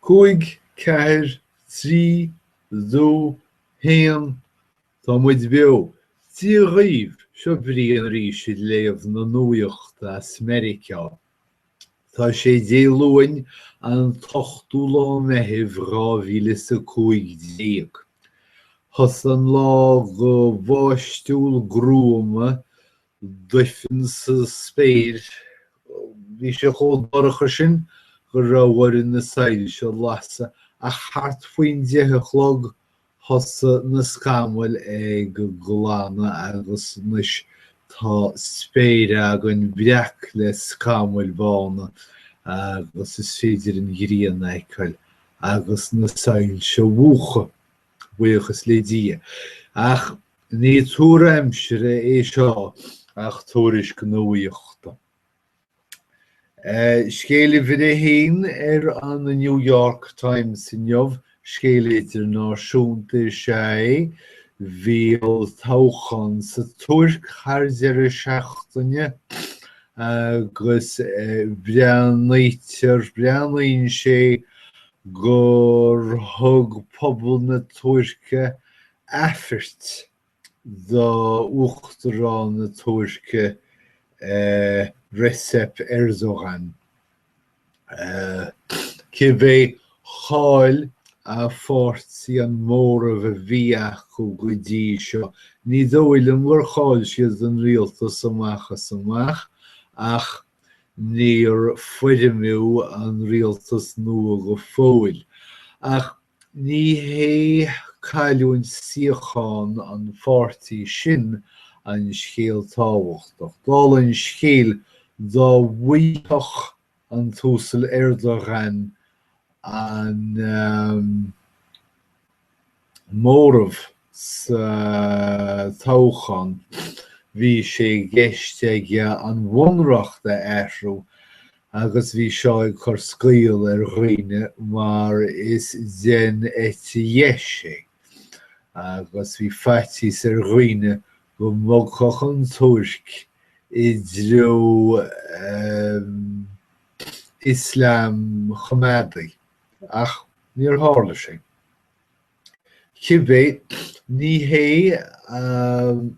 Cúig, ceathair, trí, dó, haon, Tá muid beo! Dia dhaoibh, seo Brian arís ag léamh na nuachta as Meiriceá. Tá sé Dé Luain, an t-ochtú lá Meithimh dhá mhíle is a cúig déag. Thosaigh an lá go bháistiúil gruama duifean sa spéir. Bhí sé chomh dorcha sin go raibh orainn na soilse a lasadh, ach thart faoin deich a chlog thosaigh na scamaill ag glanadh agus anois tá spéir againn breac le scamaill bhána agus is féidir an ghrian a fheiceáil agus na soilse a mhúchadh, buíochas le Dia. Ach Ní tuar aimsire é seo ach tuairisc nuachta. Scéal uimhir a haon ar an New York Times inniu, scéal idirnáisiúnta is ea é. Bhí olltoghchán sa Tuirc thar deireadh seachtaine agus breathnaítear, breathnaíonn sé gur thug pobal na Tuirce aifeirt do Uachtarán na Tuirce Recep Erdogan, cibé chaill a pháirtí an móramh a bhí acu go dtí seo. Ní dóigh liom gur chaill siad an rialtas amach is amach ach níor foirmiú an rialtas nua go fóill. Ach Ní hé cailliúint suíocháin an pháirtí sin an scéal tábhachtach. Dála an scéil, dá bhfaigheadh an tUasal Erdogan an móramh sa toghchán bhí sé i gceist aige an bhunreacht a athrú agus bhí seo ag cur scaoll ar dhaoine mar is den eite dheis é agus bhí faitíos ar dhaoine go mbogfadh an Tuirc i dtreo Ioslaim choimeádaigh, ach níor tharla sé. Cibé, ní hé an.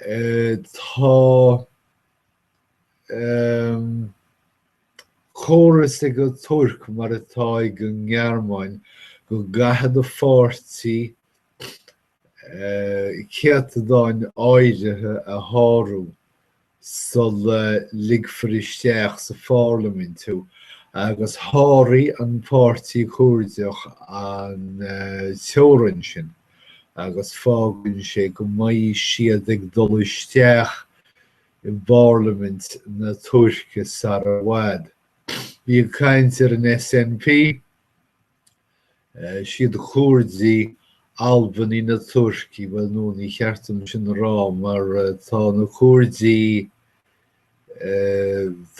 Tá córas ag an Tuirc, mar atá ag an nGearmáin, go gcaithfidh do pháirtí céatadán áirithe a shárú sula ligfear isteach sa pharlaimint thú, agus sháraigh an Páirtí Coirdeach an teorainn sin. agus fágann sé go mbeidh siad ag dul isteach i bparlaimint na Tuirce sara i bhfad. Bhí caint ar an SNP, is iad na Coirdigh Albanaigh na Tuirce, bhuel nó ní cheart dom sin a rá mar tá na Coirdigh,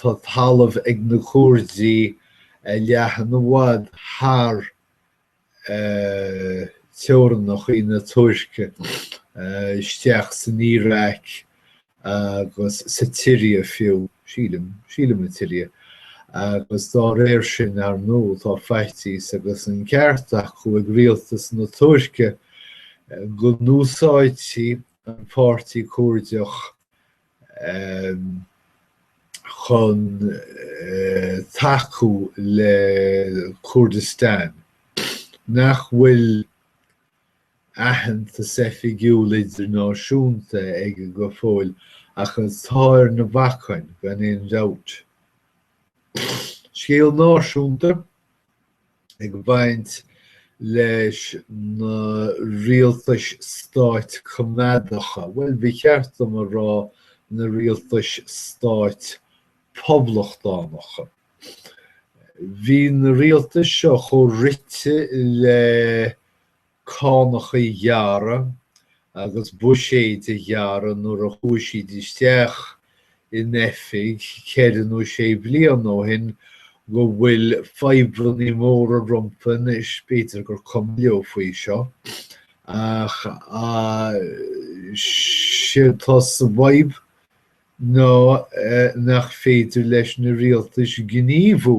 tá talamh ag na Coirdigh a leathnaíonn i bhfad thar teorainneachaí na Tuirce isteach san Iaráic agus sa tSiria fiú, sílim, sílim an tSiria, agus dá réir sin, ar nó, tá faitíos agus an ceart acu ag rialtas na Tuirce go n-úsáidfí an Páirtí Coirdeach chun tacú le Kurdistan nach bhfuil aitheantas oifigiúil idirnáisiúnta aige go fóill ach atá ar na bacáin gan aon dabht. Scéal náisiúnta ag baint leis na rialtais stáit coimeádacha, bhuel, ba cheart dom a rá na rialtais stáit poblachtánacha. Bhí na rialtais seo chomh rite le cánacha a ghearradh agus buiséid a ghearradh nuair a chuaigh siad isteach in oifig ceithre nó sé bliana ó shin go bhfuil fadhbanna móra rompu anois. B'fhéidir gur cuma leo faoi seo ach séard atá sa bhfadhb ná nach féidir leis na rialtais gníomhú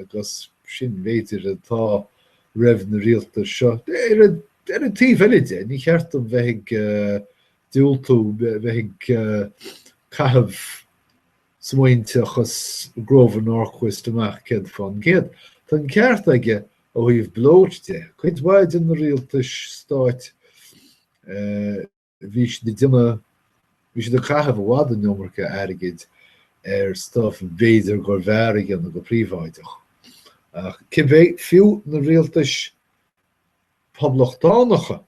Agus sin, b'fhéidir, atá roimh na rialtais seo. Ar an taobh eile de, ní cheart dom bheith ag diúltú, bheith ag caitheamh smaointeachas Grover Norquist amach céad fán gcéad. Tá an ceart aige ó thaobh Bloat de. Cuid mhaith de na rialtais stáit, bhí siad ag déanamh, bhí siad ag caitheamh i bhfad an iomarca airgid ar stuff a b'fhéidir gurbh fhearr a dhéanamh go príobháideach. Ach cibé, fiú na rialtais Poblachtánacha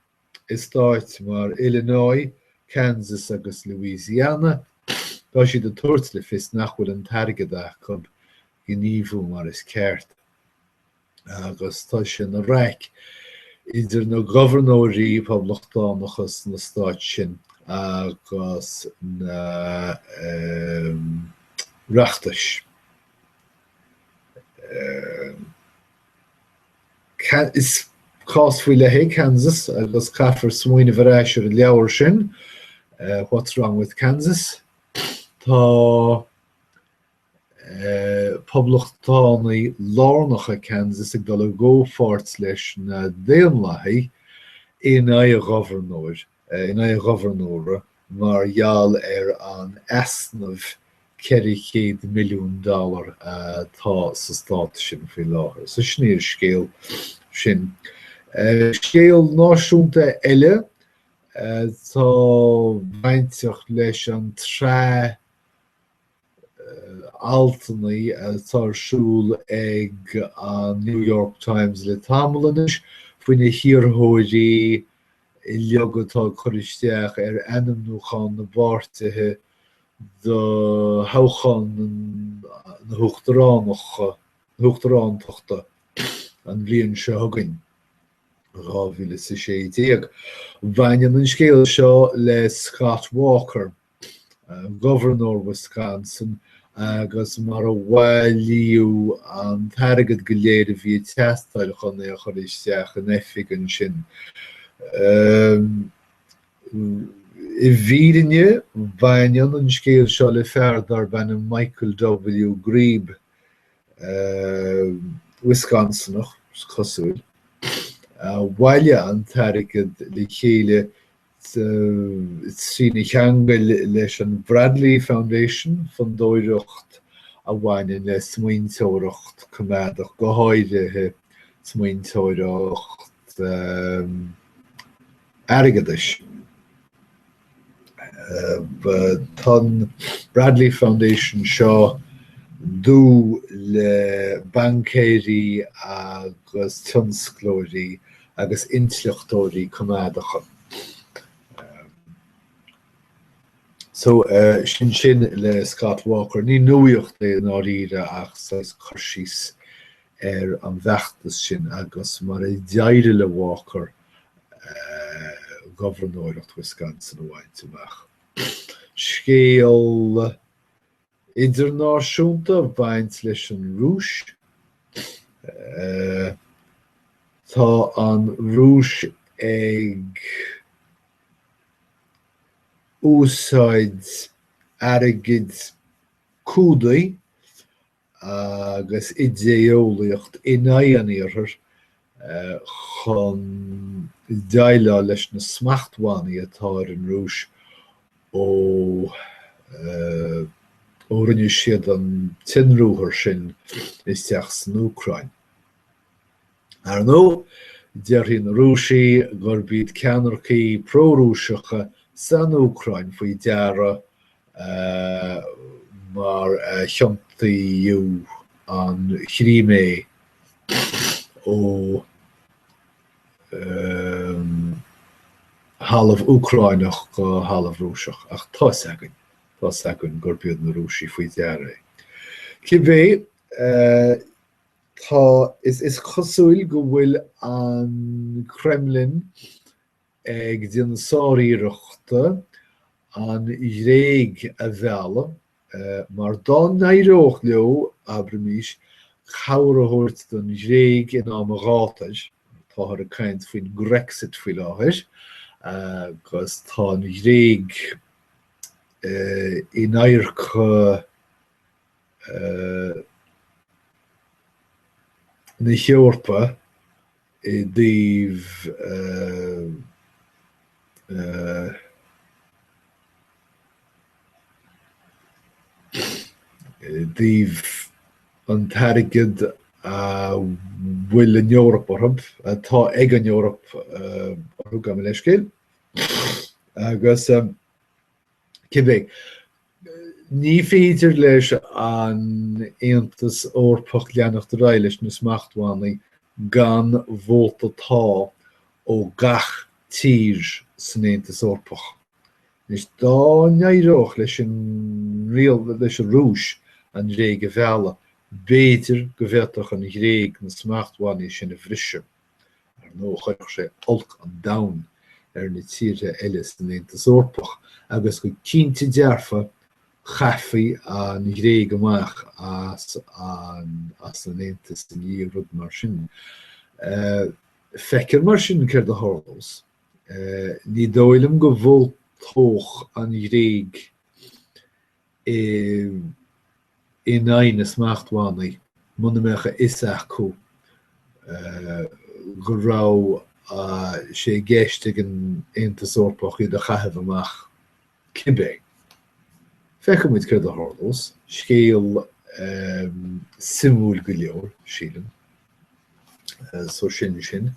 i stáit mar Illinois, Kansas agus Louisiana, tá siad ag tabhairt le fios nach bhfuil an t-airgead acu gníomhú mar is ceart. agus tá sé ina raic idir na gobharnóirí poblachtánacha sna stáit sin agus na reachtais. Is cás faoi leith é Kansas agus caithfear smaoineamh ar ais ar an leabhar sin What's Wrong with Kansas? Tá Poblachtánaigh lárnacha Kansas ag dul i gcomhpháirt leis na Daonlathaigh in aghaidh an ghobharnóra mar gheall ar an easnamh 400 milliún dollar atá sa stát sin faoi láthair. So sin é an scéal sin. Scéal náisiúnta eile atá bainteach leis an tsraith altanna atá ar siúl ag an New York Times le tamall anois faoi na hiarrthóirí uilig atá ag cur isteach ar ainmniúchán na bpáirtithe do thoghchán na huachtarántachta an bhliain seo chugainn, 2016. Baineann an scéal seo le Scott Walker, Gobharnóir Wisconsin agus mar a bhailíodh an t-airgead go léir a bhí ag teastáil chun é a chur isteach in oifig ansin. I bhfírinne baineann an scéal seo le fear darb ainm Michael W. Grebe, Wisconsinach is cosúil, a bhailigh an t-airgead le chéile trína cheangal leis an Bradley Foundation, fondóireacht a bhaineann le smaointeoireacht coimeádach, go háirithe smaointeoireacht airgeadais. Tá an Bradley Foundation seo dúil le baincéirí agus tionsclóirí agus intleachtóirí coimeádacha. So, sin sin le Scott Walker. Ní nuaíocht é i ndáiríre ach saghas cur síos ar an bhfeachtas sin agus mar a d'éirigh le Walker gobharnóireacht Wisconsin a bhaint amach. Scéal Idirnáisiúnta a bhaineann leis an Rúis. Tá an Rúis ag úsáid airgid, cúdaí agus idé-eolaíocht in aghaidh an Iarthair chun déileáil leis na smachtbhannaí atá ar an Rúis ó rinne siad an t-ionruathar sin isteach san Úcráin. Ar ndóigh, déarfaidh na Rúisigh gurb iad ceannaircigh pró-Rúiseacha san Úcráin faoi deara mar a thiontaíodh an Chrímé ó thalamh Úcráineach go talamh Rúiseach, ach tá's againn, tá's againn gurb iad na Rúisigh faoi deara é. Cibé, tá, is cosúil go bhfuil an Kremlin ag déanamh sáriarrachta an Ghréig a mhealladh mar dá n-éireodh leo, abraimis, cabhair a thabhairt don Ghréig in am an ghátair, táthar ag caint faoin Grexit faoi láthair agus tá an Ghréig in adharc na hEorpa, i dtaobh an t-airgead a bhfuil an Eoraip orthu, atá ag an Eoraip orthu gabh mo leithscéal agus cibé. Ní féidir leis an Aontas Eorpach leanacht ar aghaidh leis na smachtbhannaí gan vóta 'Tá' ó gach tír san Aontas Eorpach. Anois, dá n-éireodh leis an Rúis an Ghréig a mhealladh, b'fhéidir go bhféadfadh an Ghréig na smachtbhannaí sin a bhriseadh. Ar ndóigh, chuirfeadh sé olc an domhain ar na tíortha eile san Aontas Eorpach agus go cinnte dearfa chaithfí an Ghréig amach as an Aontas i ndiaidh rud mar sin. Feicfear mar sin céard a tharlós. Ní dóigh liom go vótálfadh an Ghréig in aghaidh na smachtbhannaí muna mbeadh a fhios acu go raibh sé i gceist ag an Aontas Eorpach iad a chaitheamh amach cibé. Feicfidh muid céard a tharlós. Scéal suimiúil go leor, sílim. So sin sin.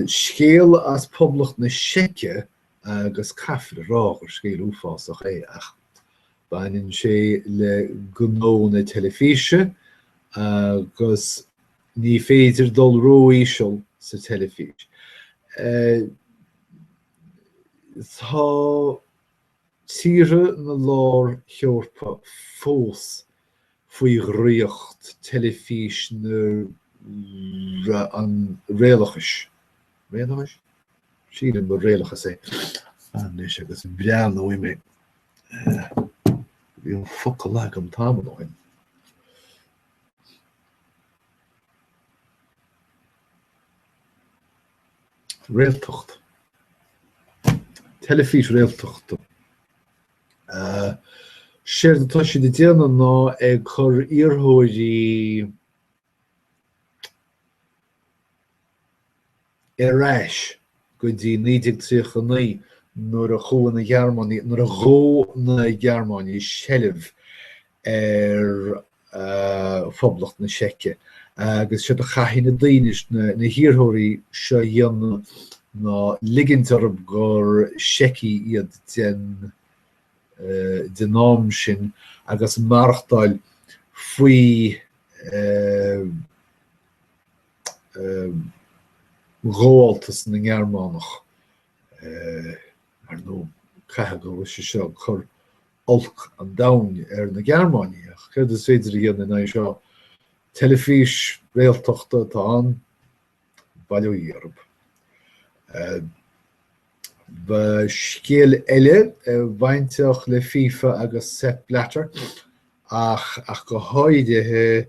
Scéal as Poblacht na Seice agus caithfear a rá gur scéal uafásach é, ach baineann sé le gnó na teilifíse agus ní féidir dul ró-íseal sa teilifís. Tá tíortha na lár-hEorpa fós faoi dhraíocht teilifís na réalachais, réalachais? sílim gur réalachas é. Anois agus breathnóidh mé, bhí an focal agam tamall ó shin. réaltacht, teilifís réaltachta. Séard atá siad ag déanamh ná ag cur iarrthóirí ar ais go dtí 1939 nuair a chuaigh na Gearmánaigh, nuair a ghabh na Gearmánaigh seilbh ar Phoblacht na Seice, agus séard a chaithfidh na daoine, na hiarrthóirí, seo a dhéanamh ná ligint orthu gur Seicigh iad den am sin agus maireachtáil faoi ghabháltas na nGearmánach. Ar ndóigh, caithfidh go bhfuil sé seo ag cur olc an domhain ar na Gearmánaigh. Ach céard is féidir a dhéanamh in aghaidh seo? Teilifís réaltachta atá ann, bail ó Dhia oraibh. Ba scéal eile a bhainfeadh le FIFA agus Sepp Blatter ach go háirithe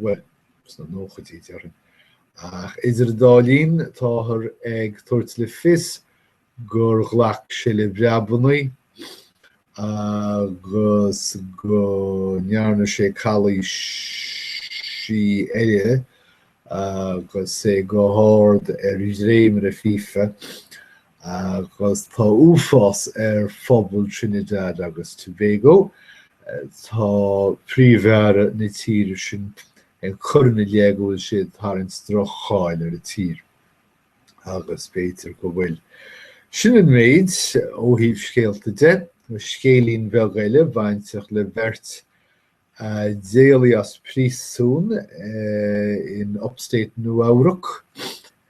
bhuel, sna nóchaidí, déarfainn. Ach idir an dá linn, táthar ag tabhairt le fios gur ghlac sé le breabannaí agus go ndearna sé calaoisí eile agus é go hard ar dhréimire fifa agus tá uafás ar phobal Trinidad agus Tobago. Tá príomh-aire na tíre sin ag cur ina leith go bhfuil sé ag tarraingt droch-cháil ar an tír agus b'fhéidir go bhfuil. Sin an méid ó thaobh scéalta de, scéilín beag eile bainteach le beirt a d'éalaigh as príosún in Upstate Nua-Eabhrac,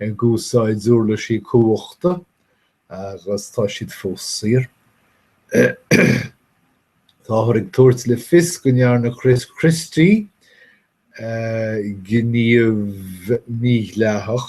ag úsáid uirlisí cumhachta agus tá siad fós saor. Táthar ag tabhairt le fios go ndearna Chris Christie gníomh mídhleathach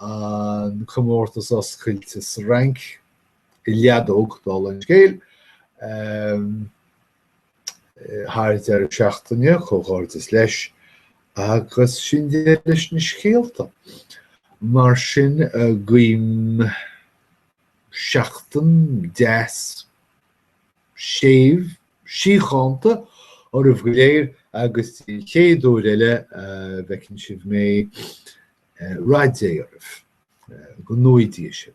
an comórtas oscailte sa Fhrainc i leadóg, dála an scéil, thar deireadh seachtaine, comhghairdeas leis, agus sin deireadh leis na scéalta. Mar sin, guím seachtain deas, séimh, síochánta oraibh go léir agus go dtí an chéad uair eile, a bhfeiceann sibh mé rath Dé oraibh go nuige sin.